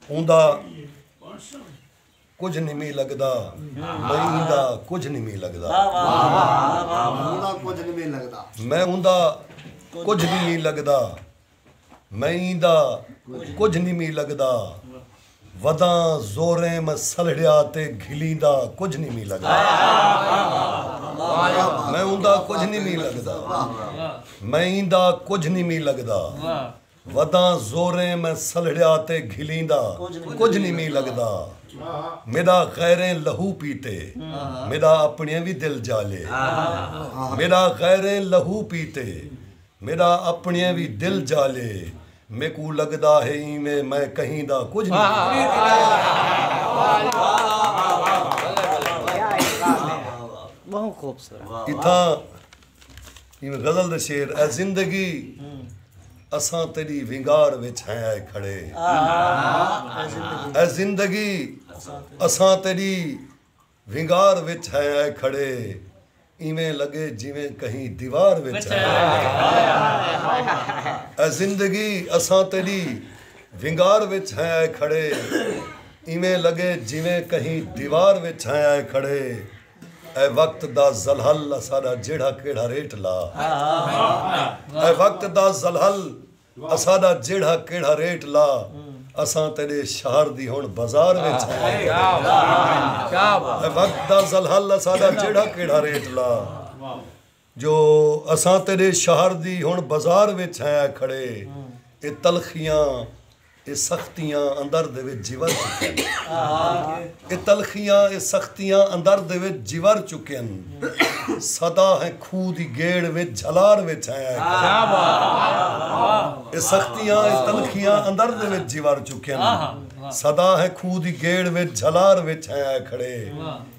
اوندا کجھ نمی لگدا میں ایندا کجھ نمی لگدا اوندا کجھ نمی لگدا میں اوندا کجھ نمی لگدا میں ایندا کجھ نمی لگدا وداں زوریں میں سلڑیا تے گھلیندا کجھ نمی لگدا میں اوندا کجھ نمی لگدا میں ایندا کجھ نمی لگدا وداں زوریں میں سلہڑیا تے گھلیندا کجھ نی می لگدا میڈا غیریں لہو پیتے میڈا اپنڑیں وی دل جالے میڈا غیریں لہو پیتے میڈا اپنڑیں وی دل جالے میکوں لگدا ہے اینویں میں کہیں دا کجھ نی۔ اتھاں ایں غزل دے شعر اے زندگی اساں تیݙی ونگار وچ ہیں آئے کھڑے اے زندگی اساں تیݙی ونگار وچ ہیں آئے کھڑے ایویں لڳے جیویں کہیں دیوار وچ ہیں اے زندگی اساں تیݙی ونگار وچ ہیں آئے کھڑے ایویں لڳے جیویں کہیں دیوار وچ ہیں آئے کھڑے اے وقت دا ذلحل اساڈا جیڑھا کیڑھا ریٹ لا اے وقت دا ذلحل اساڈا جیڑھا کیڑھا ریٹ لا اساں تیڈے شہر دی ہن بازار وچ ہیں اے وقت دا ذلحل اساڈا جیڑھا کیڑھا ریٹ لا۔ جو اساں تیڈے شہر دی ہن بزار وچ ہیں آئے کھڑے اے تلخیاں اے سختیاں اندر دے وچ جیور چکین اے تلخیاں اے سختیاں اندر دے وچ جیور چکین سدا ہیں کھو دی گیڑ وچ جھلار وچ ہیں آئے کھڑے اے سختیاں اے تلخیاں اندر دے وچ جیور چکین سدا ہیں کھو دی گیڑ وچ جھلار وچ ہیں آئے کھڑے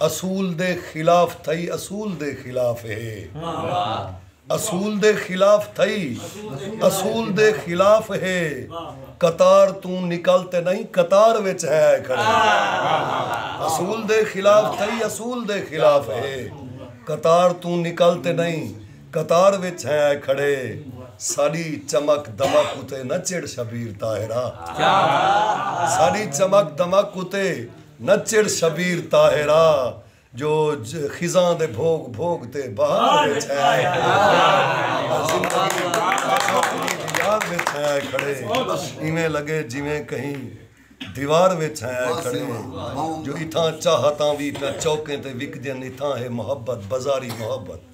اصول دے خلاف تھئی اصول دے خلاف ہے اصول دے خلاف تھئی اصول دے خلاف ہے قطار توں نکل تے نئیں قطار وچ ہے آئے کھڑے اصول دے خلاف تھئی اصول دے خلاف ہے قطار توں نکل تے نئیں قطار وچ ہے آئے کھڑے ساڈی چمک دمک اتے نہ چڑھ شبیر طاہرا ساڈی چمک دمک اتے نہ چڑھ شبیر طاہرا جو خزاں دے بھوگ بھوگ تے بہار دے چھائے کھڑے ایویں لگے جیویں کہیں دیوار وچ چھائے کھڑے جو اتھاں چاہتاں وی پیا چوکیں تے وکدین اتھاں ہے محبت بازاری محبت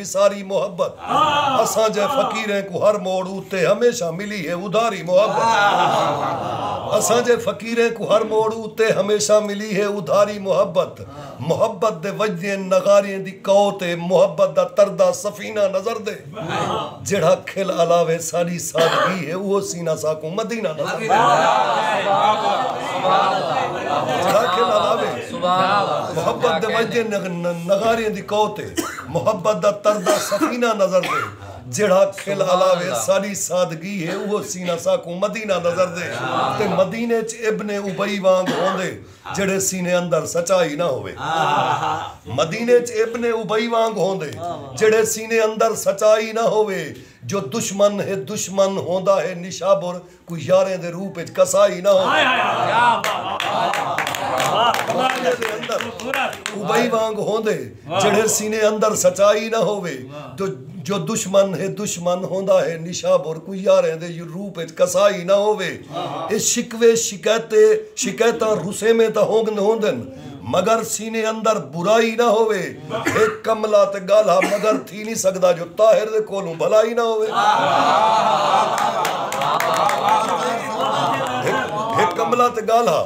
دی ساری محبت اساں جئے فقیریں کوں ہر موڑ اتے ہمیشہ ملی ہے ادھاری محبت اساں جئے فقیریں کوں ہر موڑ اتے ہمیشہ ملی ہے ادھاری محبت محبت دے وجدیں نغاریں دی کوت اے محبت دا تردا سفینہ نظر دے جیڑھا کھل الاوے ساڈی سادگی ہے اوہو سینہ ساکوں مدینہ نظر دے جیڑھا کھل الاوے محبت دے وجدیں نغاریں دی کوت اے محبت دا تردہ سفینہ نظر دے جیڑھا کھل الاوے ساڈی سادگی ہے اوہو سینہ ساکوں مدینہ نظر دے تے مدینے اچ ابن ابی وانگ ہوندے جیڑھے سینے اندر سچائی نہ ہووے مدینے اچ ابن ابی وانگ ہوندے جیڑھے سینے اندر سچائی نہ ہووے جو دشمن ہے دشمن ہوندا ہے نشابر کوں یاریں دے روپ اچ کسا ہی نہ ہو معاملے دے اندر ابئی وانگ ہوندے جیڑھے سینے اندر سچائی نہ ہووے جو دشمن ہے دشمن ہوندا ہے نشابر کوں یاریں دے روپ اچ کسا ہی نہ ہووے اے شکوے شکایتیں شکایتاں رسیمیں تاں ہوندن مگر سینے اندر برائی نہ ہووے۔ ہک کملا تے گالھا مگر تھی نی سگدا جو طاہر دے کولوں بھلائی نہ ہووے۔ ہک کملا تے گالھا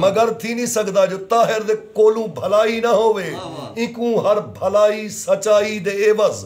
مگر تھی نی سگدا جو طاہر دے کولوں بھلائی نہ ہووے۔ اینکوں ہر بھلائی سچائی دے عوض۔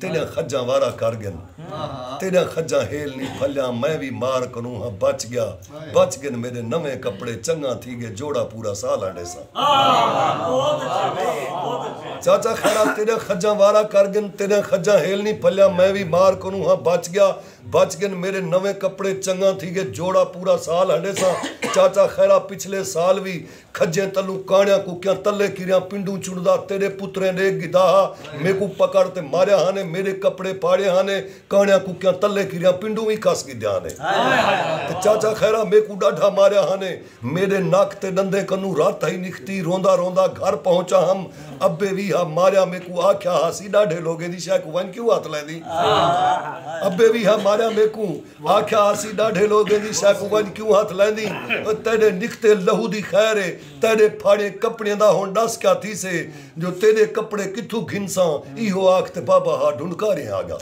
تیݙیاں کھڄاں وارا کر ڳن تیݙیاں کھڄاں ہیل نی پھلیاں میں وی مار کنوں ہاں بچ ڳیا بچ ڳن میݙے نویں کپڑے چنڳاں تھی ڳئے جوڑا پورا سال ہنڈیساں چاچا خیرا تیݙیاں کھڄاں وارا کر ڳن تیݙیاں کھڄاں ہیل نی پھلیاں میں وی مار کنوں ہاں بچ ڳیا بچ ڳن میݙے نویں کپڑے چنڳاں تھی ڳئے جوڑا پورا سال ہنڈیساں چاچا خیرا پچھلے سال وی کھجیں تلوں کانڑیاں ککیاں تلے کریاں پنڈوں چنڑدا تیڈے پتریں ڈے گدا ہا میکوں پکڑ تے ماریا ہا نے میڈے کپڑے پھاڑے ہا نے کانڑیاں ککیاں تلے کریاں پنڈوں وی کس گدیا ہا نے تے چاچا خیرا میکوں ڈاڈھا ماریا ہا نے میڈے نک تے ڈندیں کنوں رت ہئی نکھتی روندا روندا گھر پہنچا ہم ابے وی ہا ماریا میکوں آکھیا ہا سی ڈاڈھے لوگیں دی شے کوں ونج کیوں ہتھ لیندی ابے وی ہا ماریا میکوں آکھیا اسی ݙاڈھے لوگیں دی سئے کوں ونڄ کیوں ہتھ لیندیں او تیݙے نکھتے لہو دی خیر اے تیݙے پھاڑیں کپڑیں دا ہݨ ݙس کیا تھیسے جو تیݙے کپڑے کتھوں گھنساں ایہو آکھ تے بابا ہا ڈھنڈکاریں آگا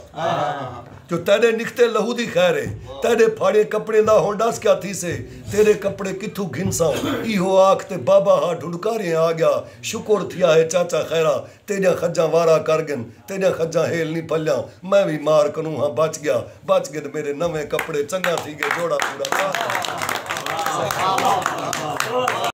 جو تیݙے نکھتے لہو دی خیر اے تیݙے پھاڑیں کپڑیں دا ہݨ ݙس کیا تھیسے تیݙے کپڑے کتھوں گھنساں ایہو آکھ تے بابا ہا ڈھنڈکاریں آگیا شکر تھیا ہے چاچا خیرا تیڈیاں خجاں وارا کر گن تیڈیاں خجاں ہیل نی پھلیاں میں وی مار کنوں ہاں بچ گیا بچ گن میڈے نویں کپڑے چنگاں تھی گئے جوڑا پورا کر گن۔